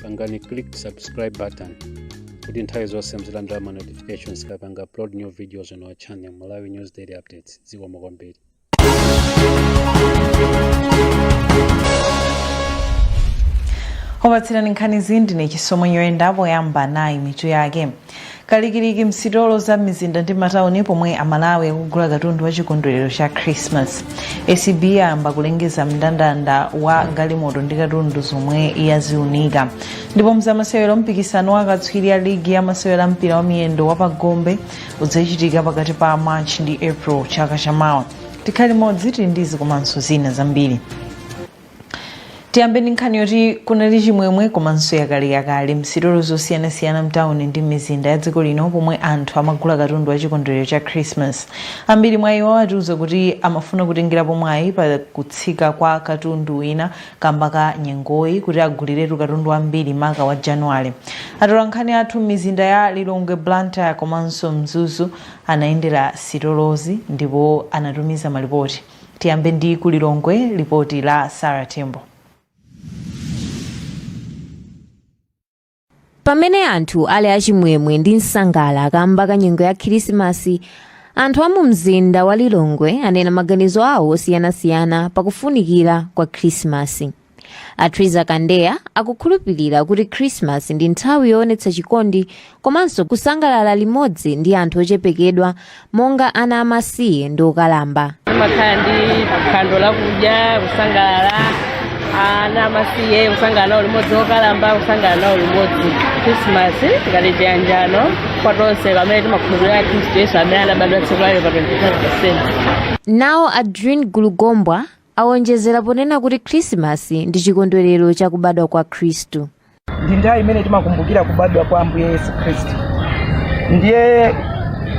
pangani click subscribe button kuti nthawi zonse muzilandira ma notifications tikapanga upload new videos on our channel malawi news daily updates zikomo kwambiri wopatsirani nkhanizi ndine chisomo mwenyoyenda poyamba nayi mitu yake kalikiliki msitolo za mizinda ndi matauni pomwe amalawi akugula katundu wa chikondwerero cha christmas acb yayamba kulengeza mndandanda wa galimoto ndi katundu zomwe yaziunika ndipo mzamasewero mpikisano wa akatswiri a ligi ya masewero a mpira wa miyendo wa pagombe udzachitika pakati pa march ndi april chaka chamawa tikhale limodzi tili ndi izi komanso zina zambiri tiyambe ndi nkhani yoti kunali chimwemwe komanso yakaliyakali msitolo zosiyanasiyana mtawuni ndi m'mizinda ya dziko lino pomwe anthu amagula katundu wa chikondwerero cha christmas ambiri mwa iwo atiuza kuti amafuna kutengerapo mwayi pa kutsika kwa katundu wina kamba ka nyengoyi kuti aguliretu katundu wambiri maka wa januwale atolankhani athu m'mizinda ya lilongwe blantyre komanso mzuzu anayendera sitolozi ndipo anatumiza malipoti Tiyambe ndi ku Lilongwe, lipoti la Sara Tembo. pamene anthu ali achimwemwe ndi msangala kamba ka nyengo ya khirisimasi anthu a mu mzinda wa lilongwe anena maganizo awo osiyanasiyana pakufunikira kwa khirisimasi a triza kandeya akukhulupirira kuti khrisimasi ndi nthawi yoonetsa chikondi komanso kusangalala limodzi ndi anthu ochepekedwa monga ana amasiye ndi okalamba timakhala ndi phwando lakudya kusangalala ana amasiye kusangalala nawo limodzi okalamba kusangalala nawo limodzi khrisimasi ngati chiyanjano kwa tonse pamene timakhulupirira khristu yesu amene anabadwa tsiku lake pa 25 december nawo adrin gulugombwa Awonjezera ponena kuti Khrisimasi ndi chikondwerero cha kubadwa kwa Khristu. ndi nthawi imene timakumbukira kubadwa kwa ambuye yesu khristu ndiye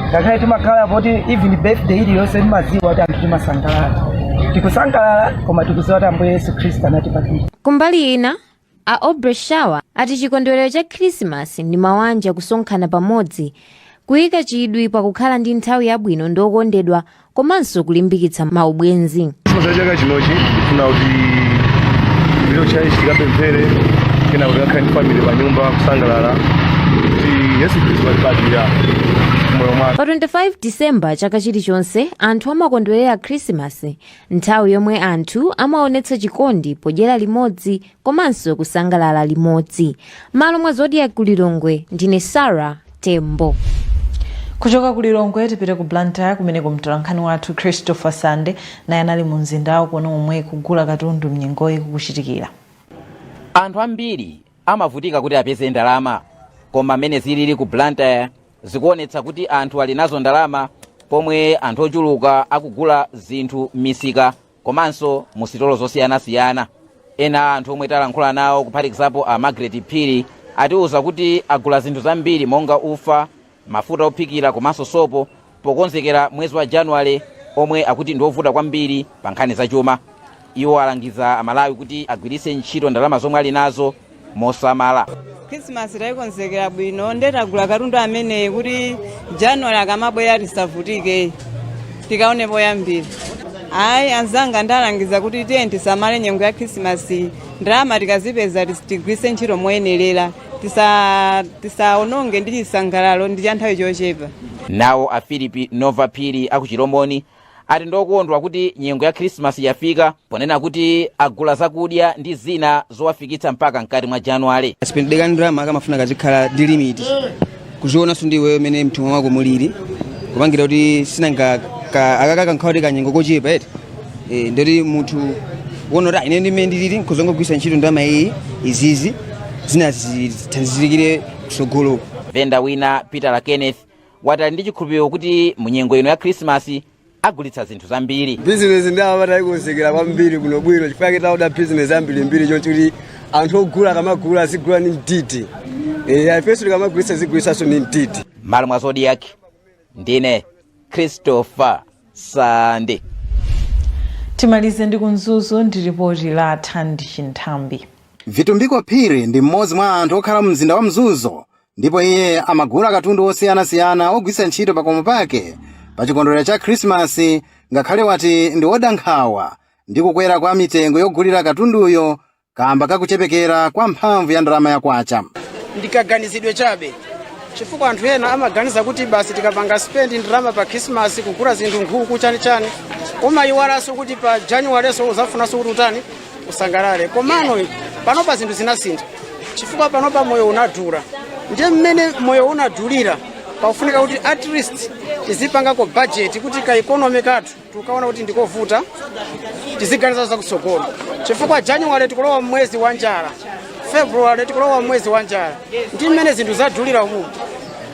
ngakhale timakhala poti even birthday iliyonse timadziwa kuti anthu timasangalala tikusangalala koma tikudziwa kuti ambuye yesu khristu anatibadwira Kumbali ina, A Aubrey Shawa ati chikondwelero cha khrisimasi ndi mawanja kusonkhana pamodzi, kuyika chidwi pa kukhala ndi nthawi yabwino ndi okondedwa komanso kulimbikitsa ma ubwenzi. Christmas ya chaka chinochi ndifuna kuti tipite ku tchalitchi tikapemphere kenako tikakhale ndi family pa nyumba kusangalala kuti Yesu Khristu watibadwira m'moyo mwake. Pa 25 December chaka chilichonse anthu amakondwelera khrisimasi Nthawi yomwe anthu amaonetsa chikondi podyera limodzi komanso kusangalala limodzi. M'malo mwa Zodiak ku Lilongwe ndine Sarah Tembo. kuchoka ku lilongwe tipite ku blantyre kumene mtolankhani wathu christopher sande naye anali mu mzindawo kuona momwe kugula katundu mnyengoyi kukuchitikira anthu ambiri amavutika kuti apeze ndalama koma mmene zilili ku blantyre zikuonetsa kuti anthu ali nazo ndalama pomwe anthu ochuluka akugula zinthu m'misika komanso mu sitolo zosiyanasiyana ena a anthu omwe tayankhula nawo kuphatikizapo a margaret phiri atiwuza kuti agula zinthu zambiri monga ufa mafuta ophikira komanso sopo pokonzekera mwezi wa januwale omwe akuti ndi wovuta kwambiri pa nkhani zachuma Iwo alangiza Amalawi kuti agwiritse ntchito ndalama zomwe ali nazo mosamala. khrisimasi tayikonzekera bwino nde tagula katundu ameneyu kuti januwali akamabwera tisavutike tikaone poyambira ayi anzanga ndalangiza kuti tiyeni tisamale nyengo ya khrisimasi ndalama tikazipeza tis- tigwiritse ntchito moyenerera Tisa- tisaononge ndi chisangalalo ndi cha nthawi chochepa Nawo a Philip Nova Phiri a ku Chilomoni ati ndi okondwa kuti nyengo ya khirisimasi yafika ponena kuti agula zakudya ndi zina zowafikitsa mpaka mkati mwa januwale sipendekani ndalama akamafuna kazikhala ndi limiti kuzionanso ndi iweyo mene mthumba mwako mulili kupangira kuti sinanga akakaka nkhawa kuti kanyengo kochepa eti Eh, ndoti munthu wona kuti ine ndimene ndilili nkuzangogwiritsa ntchito ndalama iyi izizi zina zithandizirikire kusogoloko venda wina peter kenneth wati ali ndi chikhulupiriro kuti mu nyengo ino ya khrisimasi agulitsa zinthu zambiri bizinesi nde apa tayikonzekera kwambiri bwinobwino chifukwa chake taoda bizinesi ambirimbiri choncho kuti anthu ogula akamagula azigula ndi mtiti Eh, ifenso tikamagulitsa zigulitsanso ndi mtiti m'malo mwa zodiak ndine christopher sande timalize ndi ku mzuzu ndi ripoti la thandi chinthambi vitumbiko phiri ndi mmodzi mwa anthu okhala mu mzinda wa mzuzu Ndipo iye amagula katundu wosiyanasiyana wogwiritsa ntchito pakomo pake pa chikondwerero cha Khrisimasi ngakhale wati ndi woda nkhawa ndi kukwera kwa mitengo yogulira katunduyo kaamba ka kuchepekera kwa mphamvu ya ndalama ya kwacha. Ndi kaganizidwe chabe chifukwa anthu ena amaganiza kuti basi tikapanga spend ndalama pa Khrisimasi kugula zinthu nkhuku chanichani, umaiwalanso kuti pa Januwalenso uzafunanso kuti utani usangalale komano panopa zinthu zinasintha chifukwa panopa moyo unadula ndiye mmene moyo unadulira pakufunika kuti at least tizipangako budget kuti ka economy kathu tikuona kuti ndikovuta tiziganiza zakutsogolo chifukwa january tikulowa mwezi wa njala february tikulowa mwezi wa njala ndi mmene zinthu zadulira umu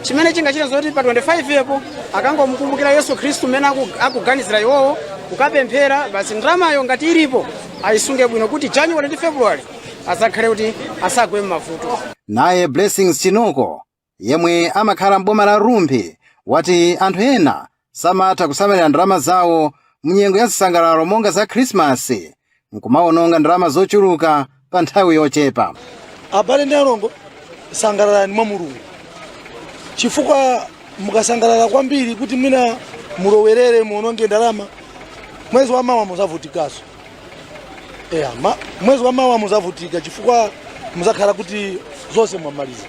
chimene chingachitidwe nzoti pa 25 po akangomukumbukira yesu khristu mmene aku- akuganizira iwowo kukapemphera basi ndalamayo ngati ilipo ayisunge bwino kuti january ndi february azakhale kuti asagwe m'mavuto naye blessings chinoko yemwe amakhala m'boma la rumphi wati anthu ena samatha kusamalira ndalama zawo munyengo ya zisangalalo monga za khrisimasi nkumawononga ndalama zochuluka pa nthawi yochepa abale ndi alongo sangalalani mwa mulungu chifukwa mukasangalala kwambiri kuti mwina mulowerere muononge ndalama mwezi wa mawa muzavutikaso Yeah, ma, mwezi wa mawa muzavutika chifukwa muzakhala kuti zonse mwamaliza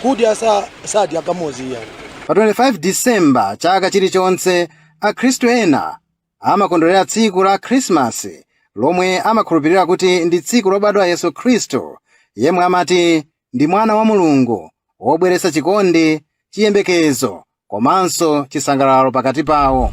kudya sa, sadya kamodzi iyayi pa 25 disemba chaka chilichonse akhristu ena amakondwerera tsiku la khrisimasi lomwe amakhulupirira kuti ndi tsiku lobadwa yesu khristu yemwe amati ndi mwana wa mulungu wobweretsa chikondi chiyembekezo komanso chisangalalo pakati pawo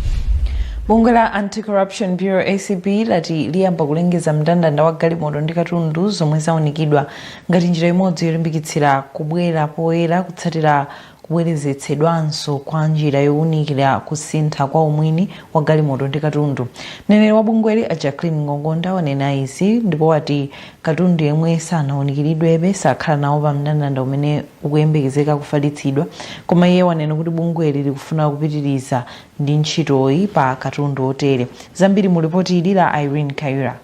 bungwe la anti-corruption bureau acb lati liyamba kulengeza mndandanda wa galimoto ndi katundu zomwe zaunikidwa ngati njira imodzi yolimbikitsira kubwera poyera kutsatira kubwerezetsedwanso kwa njira yowunikira kusintha kwa umwini wa galimoto ndi katundu mneneri wa bungweli a jacqueline ngongonda wanena izi ndipo wati Katundu yemwe sanawunikiridwebe sakhala nawo pa mndandanda umene ukuyembekezeka kufalitsidwa, koma iye wanena kuti bungweli likufuna kupitiriza ndi ntchitoyi pa katundu otere. Zambiri mu lipoti ili la Irene Kaira.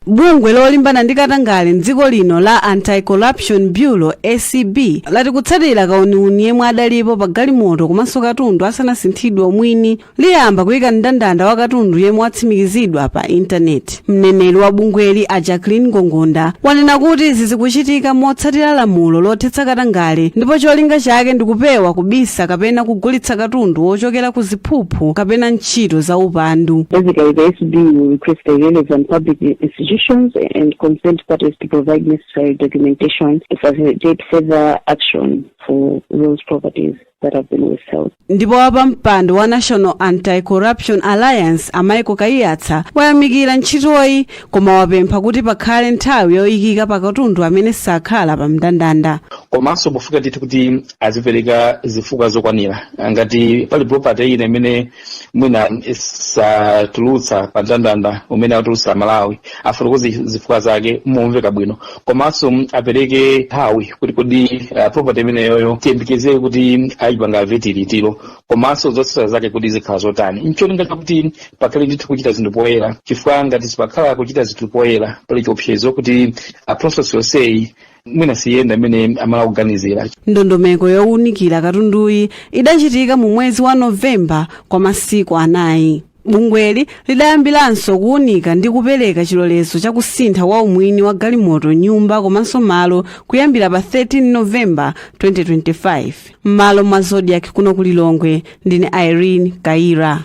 Bungwe lolimbana ndi katangale m'dziko lino la Anti-Corruption Bureau, acb, lati kutsatira kauniuni yemwe adalipo pa galimoto komanso katundu asanasinthidwe umwini, liyamba kuyika mndandanda wa katundu yemwe watsimikizidwa pa intaneti mneneri wa bungweli a jacqueline ngongonda wanena kuti izi zikuchitika motsatira lamulo lothetsa katangale ndipo cholinga chake ndi kupewa kubisa kapena kugulitsa katundu wochokera ku ziphuphu kapena ntchito za upandu Basically, the ACB will request the relevant public institutions and concerned parties to provide necessary documentation to facilitate further action for those properties. that have been withheld. ndipo wapampando wa national anti-corruption alliance a michael kaiyatsa wayamikira ntchitoyi koma wapempha kuti pakhale nthawi yoyikika pa katundu amene sakhala pa mndandanda komanso pofunika ndithu kuti azipereka zifukwa zokwanira ngati pali property ina imene mwina sanatulutse pa ndandanda umene atulutse mawawu afotokoze zifukwa zake momveka bwino komanso mm, apereke nthawi kuti kodi uh, property imeneyoyo tiyembekezere kuti ayipanga vet liti komanso zotsatira zake kuti zikhala zotani ncholinga chakuti pakhale ndithu kuchita zinthu poyera chifukwa ngati sipakhala kuchita zinthu poyera pali chiopsezo kuti uh, process yonseyi mwina siyenda imene amala kuganizira ndondomeko yowunikira katunduyi idachitika mu mwezi wa novemba kwa masiku anayi bungweli lidayambiranso kuwunika ndi kupereka chilolezo cha kusintha kwa umwini wa galimoto nyumba komanso malo kuyambira pa 13 novemba 2025 m'malo mwa zodiak kuno ku lilongwe ndine irene kaira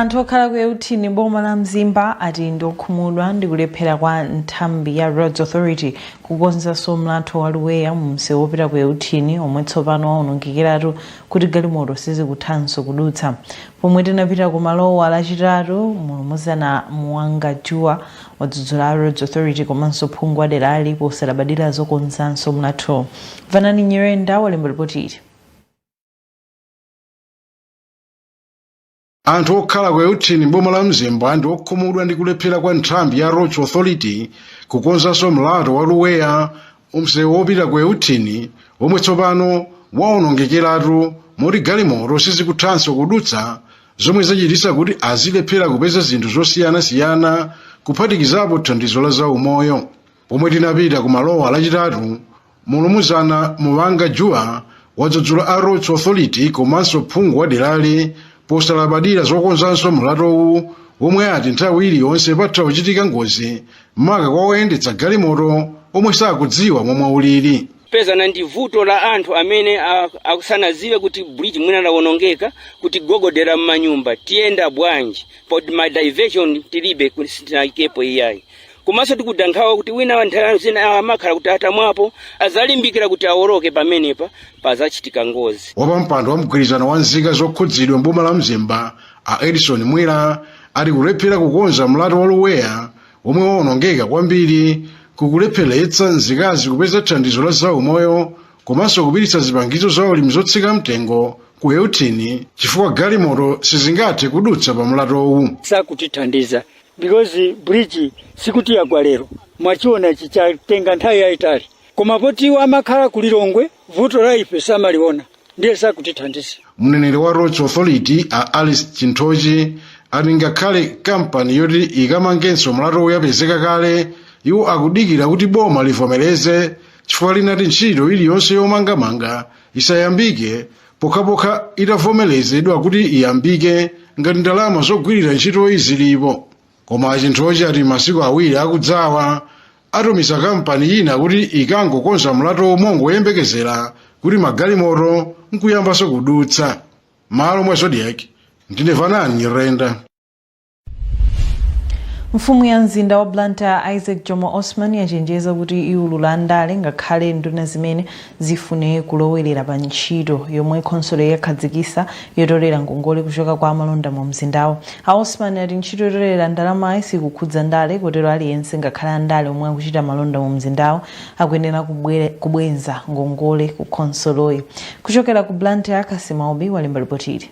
anthu okhala ku euthini m'boma la mzimba ati ndi okhumudwa ndi kulephera kwa nthambi ya roads authority kukonzanso mlatho wa luweya mu msewu wopita ku euthini omwe tsopano waonongekeratu kuti galimoto sizikuthanso kudutsa pomwe tinapita ku malowa lachitatu mulumuzana muwanga juwa wadzudzula a roads authority komanso phungu wa derali posalabadira zokonzanso mlathowu vanani nyirenda walemba lipoti ili anthu okhala ku euthini m'boma la mzimba ndi okhumudwa ndi kulephera kwa nthambi ya roads authority kukonzanso mlatho wa luweya mu msewu wopita ku euthini womwe tsopano wawonongekeratu moti galimoto sizikuthanso kudutsa zomwe zachititsa kuti azilephera kupeza zinthu zosiyanasiyana kuphatikizapo thandizo la zaumoyo pomwe tinapita ku malowa lachitatu mulumuzana muwanga juwa wadzudzula a roads authority komanso phungu wa derali posalabadira zokonzanso mlatowu womwe ati nthawi iliyonse patha kuchitika ngozi maka kwa oyendetsa galimoto omwe sakudziwa momwe ulili timapezana ndi vuto la anthu amene a- akusanadziwe kuti bridge mwina lawonongeka kutigogodera m'manyumba tiyenda bwanji poti ma diversion tilibe kuti sitinayikepo iyayi komanso tikuda nkhawa kuti winawake nthawi zina amakhala kuti atamwapo adzalimbikira kuti awoloke pamenepa padzachitika ngozi wapampando wa mgwirizano wa nzika zokhudzidwa mboma la mzimba a edison mwira ati kulephera kukonza mlatho wa luweya womwe waonongeka kwambiri kukulepheretsa nzika kupeza thandizo la zaumoyo komanso kupititsa zipangizo za ulimi zotsika mtengo ku euthini chifukwa galimoto sizingathe kudutsa pa mlatowu sakutithandiza because bridge sikuti yagwa lero mwachiona ichi chatenga nthawi yayitali koma poti iwo amakhala ku lilongwe vuto la ife samaliona ndiye sakutithandiza mneneri wa roads authority a alice chinthochi ati ngakhale kampani yoti ikamangenso mlathowu yapezeka kale iwo akudikira kuti boma livomereze chifukwa linati ntchito iliyonse yomangamanga isayambike pokhapokha itavomerezedwa kuti iyambike ngati ndalama zogwirira ntchitoyi zilipo koma chinthochi ati masiku awiri akudzawa atumiza kampani ina kuti ikangokonza mlatho mongoyembekezera kuti magalimoto nkuyambanso kudutsa m'malo mwa zodiak ndine vanani nyirenda mfumu ya mzinda wa blantyre isaac jomo osman yachenjeza kuti iwulula andale ngakhale nduna zimene zifune kulowerera pa ntchito yomwe khonsoloyi yakhazikitsa yotolera ngongole kuchoka kwa amalonda mu mzindawo a osman ati ntchito yotolera ndalamayi sikukhudza ndale kotero aliyense ngakhale andale omwe akuchita malonda mu mzindawo akuyenera kubwere- kubwenza ngongole ku khonsoloyi kuchokera ku blantyre kassim aubi walemba lipotili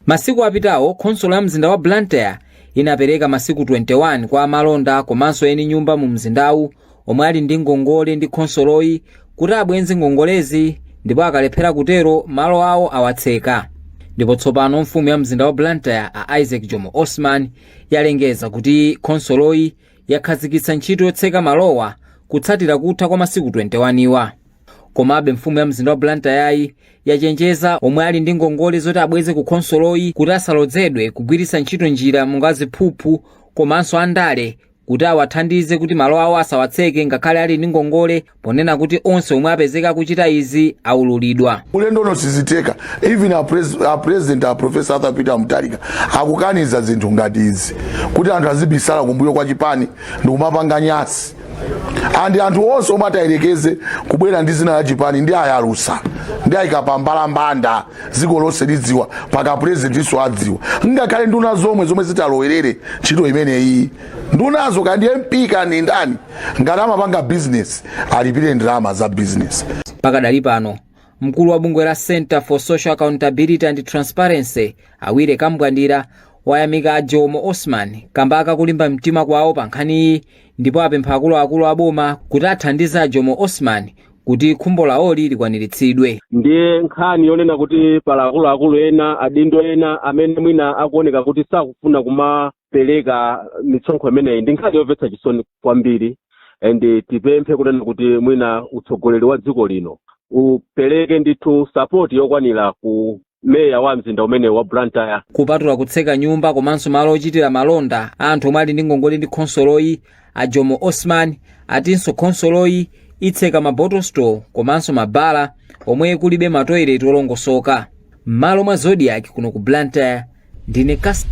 Masiku apitawo, khonsolo ya mzinda wa Blantyre inapereka masiku 21 kwa amalonda komanso eni nyumba mu mzindawu omwe ali ndi ngongole ndi khonsoloyi kuti abwenze ngongolezi ndipo akalephera kutero, malo awo awatseka. Ndipo tsopano mfumu ya mzinda wa Blantyre a Isaac Jomo Osman yalengeza kuti khonsoloyi yakhazikitsa ntchito yotseka malowa kutsatira kutha kwa masiku 21 wa. komabe mfumu ya mzinda wa blantyre yachenjeza omwe ali ndi ngongole zoti abweze ku khonsoloyi kuti asalodzedwe kugwiritsa ntchito njira monga ziphuphu komanso andale kuti awathandize kuti malo awo asawatseke ngakhale ali ndi ngongole ponena kuti onse omwe apezeka kuchita izi aululidwa ulendo uno sizitheka even a president a professor arthur peter mutharika akukaniza zinthu ngati izi kuti anthu azibisala kumbuyo kwa chipani ndikumapanga nyansi and anthu onse omwe atayerekeze kubwera ndi dzina la chipani ndiwayalutsa ndiwayika pambalambanda dziko lonse lidziwa mpaka purezidentinso adziwa ngakhale nduna zomwe zomwe zitalowerere ntchito imeneyi ndunazo kandi mp kandi ndani ngati amapanga bizinesi alipire ndalama za bizinesi pakadali pano mkulu wa bungwe la center for social accountability and transparency a willy kambwandira wayamika a jomo osman kamba ka kulimba mtima kwawo pa nkhaniyi ndipo apempha akuluakulu a boma kuti athandize a Jomo Osman kuti khumbo lawoli likwaniritsidwe. ndiye nkhani yonena kuti pali akuluakulu ena adindo ena amene mwina akuoneka kuti sakufuna kumapereka misonkho imeneyi ndi nkhani yomvetsa chisoni kwambiri and tipemphe kunena kuti mwina utsogoleri wa dziko lino upereke ndithu sapoti yokwanira ku meya wa mzinda umenewu wa blantyre kupatula kutseka nyumba komanso malo ochitira malonda a anthu omwe ali ndi ngongole ndi khonsoloyi a jomo osman atinso khonsoloyi itseka ma bottle store komanso mabala omwe kulibe matoileti olongosoka m'malo mwa zodiak kuno ku blantyre ndine kas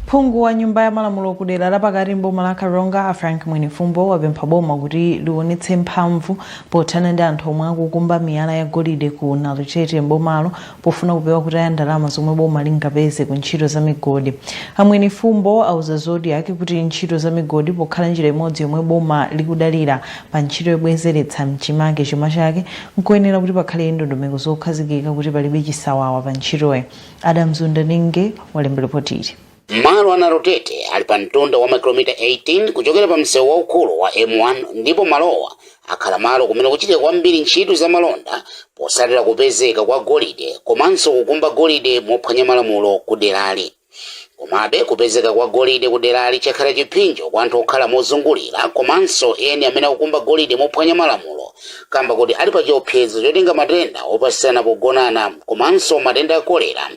Phungu wa nyumba ya malamulo ku dera lapakati m'boma la Karonga a Frank Mwenifumbo wapempha boma kuti liwonetse mphamvu pothana ndi anthu omwe akukumba miyala ya golide ku Nalutete m'bomalo pofuna kupewa kutaya ndalama zomwe boma lingapeze ku ntchito za migodi. A Mwenifumbo auza Zodiak kuti ntchito za migodi pokhala njira imodzi yomwe boma likudalira pa ntchito yobwezeretsa mchimake chuma chake nkoyenera kuti pakhale ndondomeko zokhazikika kuti palibe chisawawa pa ntchitoyi. Adams Wundaninge walemba lipoti ili. Malo a Nalutete ali pa mtunda wa makilomita 18 kuchokera pa msewu waukulu wa M1 ndipo malowa akhala malo kumene kuchitika kwambiri ntchito za malonda posatira kupezeka kwa golide komanso kukumba golide mophwanya malamulo ku derali. Komabe kupezeka kwa golide ku derali chakhala chiphinjo kwa anthu okhala mozungulira komanso eni amene akukumba golide mophwanya malamulo kamba koti ali pa chiopsezo chotenga matenda opatsirana pogonana komanso matenda a kolera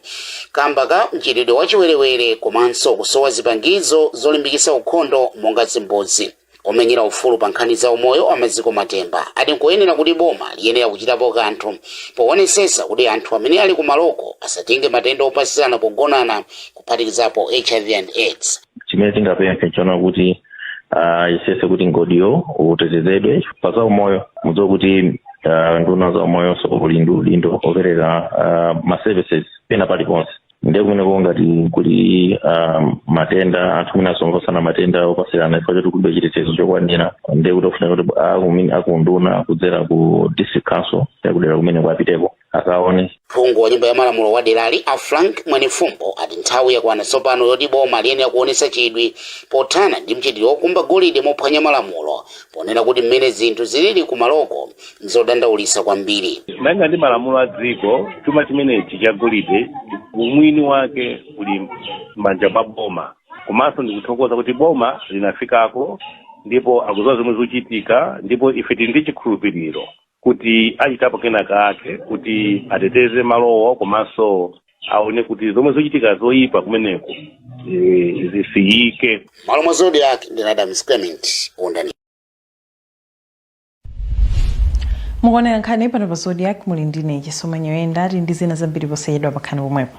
kamba ka mchitidwe wa chiwerewere komanso kusowa zipangizo zolimbikitsa ukhondo monga zimbudzi. Omenyera ufulu pa nkhani za umoyo a Maziko Matemba ati nkoyenera kuti boma liyenera kuchitapo kanthu poonetsetsa kuti anthu amene ali kumaloko asatenge matenda opatsirana pogonana kuphatikizapo hiv and aids. chimene tingapemphe nchona kuti ah, ayesetse kuti mgodiwo utetezedwe pa za umoyo mudziwa kuti ah, unduna wa za umoyonso uli ndi udindo opereka ah, ma services pena paliponse ndiye kumeneko ngati kuli ah, matenda anthu kumene asonkhana matenda opatsirana chifukwa choti kulibe chitetezo chokwanira ndiye kuti ofunika kuti akumi- a ku unduna kudzera ku district council yakudera kumeneko apiteko akaone phungu wa nyumba ya malamulo wa derali a frank mwenifumbo ati nthawi yakwana tsopano yoti boma liyenera kuonetsa chidwi pothana ndi mchitidwe wokumba golide mophwanya malamulo ponena kuti mmene zinthu zilili kumaloko nzodandaulitsa kwambiri malinga ndi malamulo a dziko chuma chimenechi cha golide umwini wake uli m'manja mwa boma komanso ndikuthokoza kuti boma linafikako ndipo akuziwa zomwe zikuchitika ndipo ife tili ndi chikhulupiriro kuti achitapo kena kake kuti ateteze malowo komanso aone kuti zomwe zochitika zoyipa kumeneko eh, zisiyike m'malo mwa zodiak ndine adams clement wundaninge mukuonera nkhani pano pa zodiak muli ndine chisomo nyoyenda tili ndi zina zambiri posachedwa bakhalani pomwepo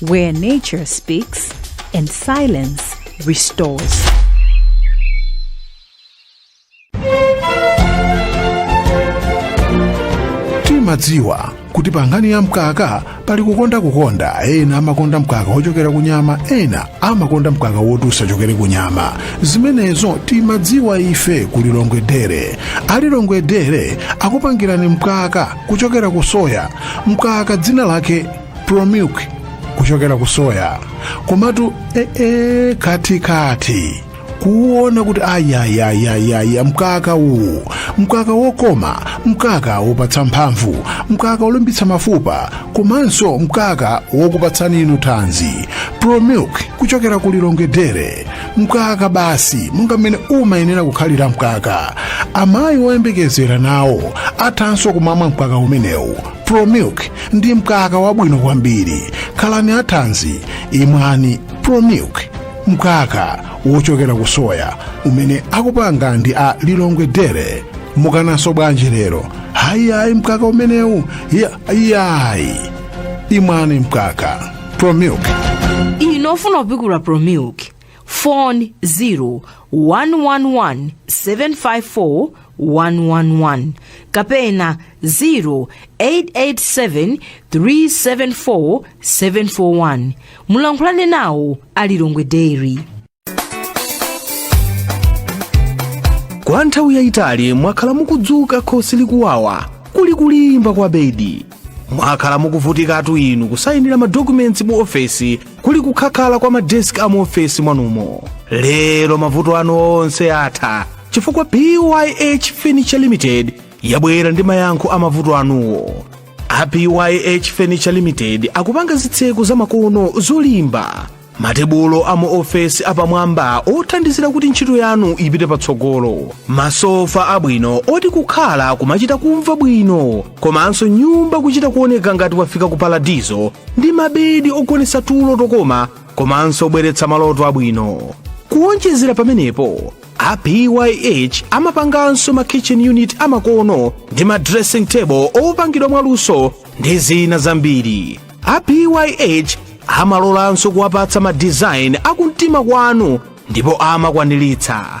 where nature speaks and silence restores. timadziwa kuti pa nkhani ya mkaka pali kukonda kukonda ena amakonda mkaka wochokera ku nyama ena amakonda mkaka woti usachokere ku nyama zimenezo timadziwa ife ku lilongwe dairy a lilongwe dairy akupangirani mkaka kuchokera ku soya mkaka dzina lake promilk kuchokera ku soya komatu ee kati kati kuona kuti ayayayayaya mkaka uwu mkaka wokoma mkaka wopatsa mphamvu mkaka wolimbitsa mafupa komanso mkaka wokupatsani inu thanzi promilk kuchokera ku lilongwe dairy mkaka basi monga mmene umayenera kukhalira mkaka amayi woyembekezera nawo athanso kumamwa mkaka umenewu promilk ndi mkaka wabwino kwambiri khalani athanzi imwani promilk mkaka wochokera ku soya umene akupanga ndi a lilongwe dairy mukananso bwanji lero ayi ayi mkaka umenewu iyayi imwani mkaka promilk inu ofuna kupikula promilk phone 0111754111 kapena 0887374741 mulankhulane nawo a lilongwe dairy kwa nthawi yayitali mwakhala mukudzuka khosi likuwawa kuli kulimba kwa bedi mwakhala mukuvutikatu inu kusayinira madokumenti mu ofesi kuli kukhakhala kwa madesk a muofesi mwanumo lero mavuto anu onse atha chifukwa pyh furniture limited yabwera ndi mayankho a mavuto anuwo a pyh furniture limited akupanga zitseko zamakono zolimba matebulo a mu ofesi apamwamba othandizira kuti ntchito yanu ipite patsogolo masofa abwino oti kukhala kumachita kumva bwino komanso nyumba kuchita kuoneka ngati wafika ku paradizo ndi mabedi ogonetsa tulo tokoma komanso obweretsa maloto abwino kuwonjezera pamenepo a pyh amapanganso ma kitchen unit amakono ndi ma dressing table opangidwa mwaluso ndi zina zambiri a pyh amalolanso kuwapatsa ma design akumtima kwanu ndipo amakwaniritsa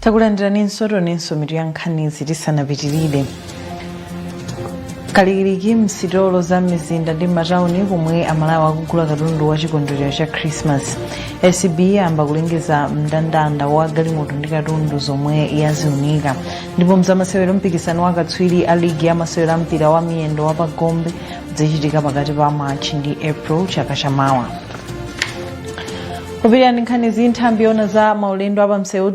takulandirani nsotonenso mitu ya nkhanizi tisanapitirire kalikiliki msitolo za mizinda ndi matawuni komwe amalawi akugula katundu wa chikondwerero cha christmas acb yayamba kulengeza mndandanda wa galimoto ndi katundu zomwe yaziunika ndipo mzamasewero mpikisano wa katswiri a ligi ya masewero a mpira wa miyendo wa pagombe udzachitika pakati pa march ndi april chaka chamawa kupitirira nkhanizi nthambi yoona za maulendo apamsewu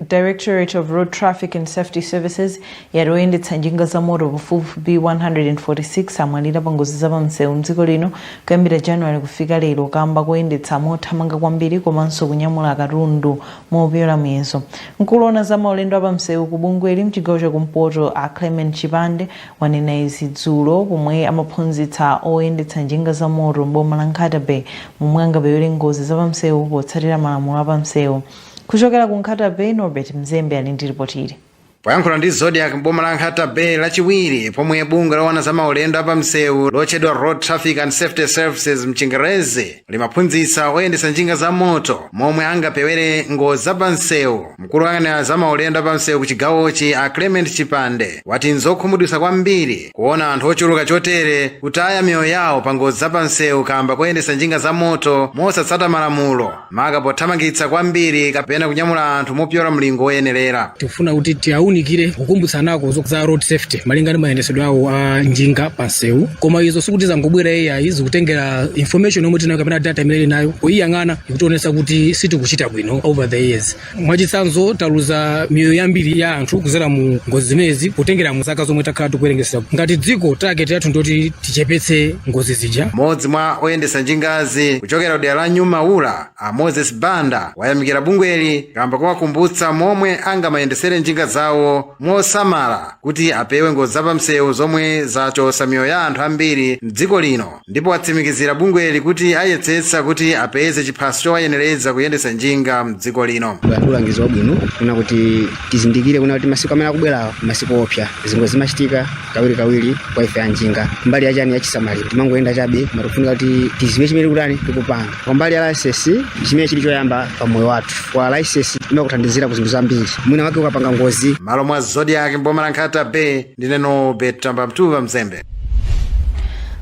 directorate of road traffic and safety services yati oyendetsa njinga za moto pafupifupi 146 amwalira pa ngozi zapamsewu mdziko lino kuyambira january kufika lero kamba koyendetsa mothamanga kwambiri komanso kunyamula katundu mopyola muyezo mkulu woona za maulendo apamsewu ku bungweli mchigawo chakumpoto a clement chipande wanena izi dzulo pomwe amaphunzitsa oyendetsa njinga za moto m'boma la Nkhata-Bay momwe angapewere ngozi za pamsewu potsatira malamulo a pamsewu. Kuchokera ku Nkhata-Bay, Norbert Mzembe ali ndi lipoti ili. Poyankhula ndi Zodiak m'boma la Nkhata-Bay lachiwiri pomwe bungwe loona za maulendo a pamsewu lotchedwa Road Traffic and Safety Services mchingerezi limaphunzitsa oyendetsa njinga za moto momwe angapewere ngozi za pamsewu mkulu woyang'anira za maulendo a pamsewu ku chigawochi a clement chipande wati nzokhumudwitsa kwambiri kuona anthu ochuluka chotere kutaya miyoyo yawo pa ngozi za pamsewu kamba koyendetsa njinga za moto mosatsata malamulo maka pothamangitsa kwambiri kapena kunyamula anthu mopyola mlingo woyenerera tikufuna kuti tiwaunikire kukumbutsanako za road safety malinga ndi mayendesedwe awo a njinga pa nsewu koma izo sikuti zangobwera ayi zikutengera information yomwe tinayo kapena data imene ili nayo poyiyang'ana ikutionetsa kuti sitikuchita bwino over the years mwachitsanzo taluza miyoyo yambiri ya anthu kuzera mu ngozi zimenezi potengera mu zaka zomwe takhala tikuwerengesa ngati dziko target yathu ndoti tichepetse ngozi zija mmodzi mwa oyendetsa njingazi kuchokera kudera la new maula a moses banda wayamikira bungweli kamba kowakumbutsa momwe angamayendesere njinga zawo mosamala kuti apewe ngozi zapamsewu zomwe zachotsa miyoyo ya anthu ambiri mdziko lino ndipo atsimikizira bungweli kuti ayetsetsa kuti apeze chiphaso chowayenereza kuyendetsa njinga mdziko lino ulangizi wabwino kuna kuti tizindikire kuna kuti masiku amene akubwerawa masiku oopsa zingozi zimachitika kawiri kawiri kwa ife anjinga mbali yachani yachisamaliro timangoyenda chabe ma tofunika kuti tiziwe chimene tikutani tikupanga kumbali ya license chimene chili choyamba pa moyo wathu kwa license imakuthandizira ku zinthu zambiri mwina wake ukapanga ngozi mmalo mwa zodiac mboma la nkhata bay ndine norbert mtuva mzembe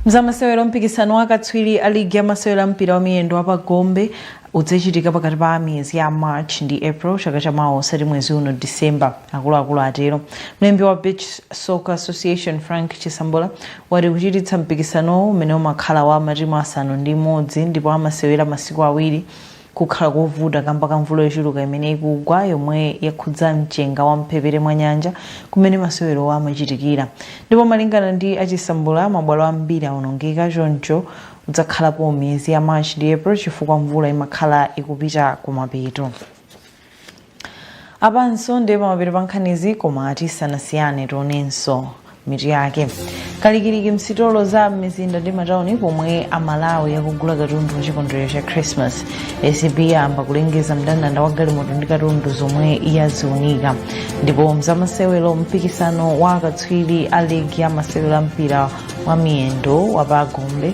mzamasewero mpikisano wa katswiri a ligi ya masewero a mpira wa miyendo wapa gombe udzachitika pakati pa miyezi ya march ndi april chaka cha mawa osati mwezi uno december akuluakulu atero mlembi wa beach soccer association frank chisambola wati kuchititsa mpikisanowu umene umakhala wa matimu asanu ndi imodzi ndipo amasewera masiku awiri kukhala kovuta kamba ka mvula yochuluka imene ikugwa yomwe yakhudza mchenga wa mphepete mwa nyanja kumene masewerowa amachitikira ndipo malingana ndi a Chisambula mabwalo ambiri awonongeka choncho udzakhalapo miyezi ya march ndi april chifukwa mvula imakhala ikupita kumapeto apanso ndiye pamapeto pa nkhanizi koma tisanasiyane tionenso mitu yake kalikiliki msitolo za m'mizinda ndi matauni pomwe amalawi akugula katundu wa chikondwerero cha christmas acb yayamba kulengeza mndandanda wa galimoto ndi katundu zomwe yaziunika ndipo mzamasewero mpikisano wa akatswiri a ligi ya masewero a mpira wa miyendo wa pagombe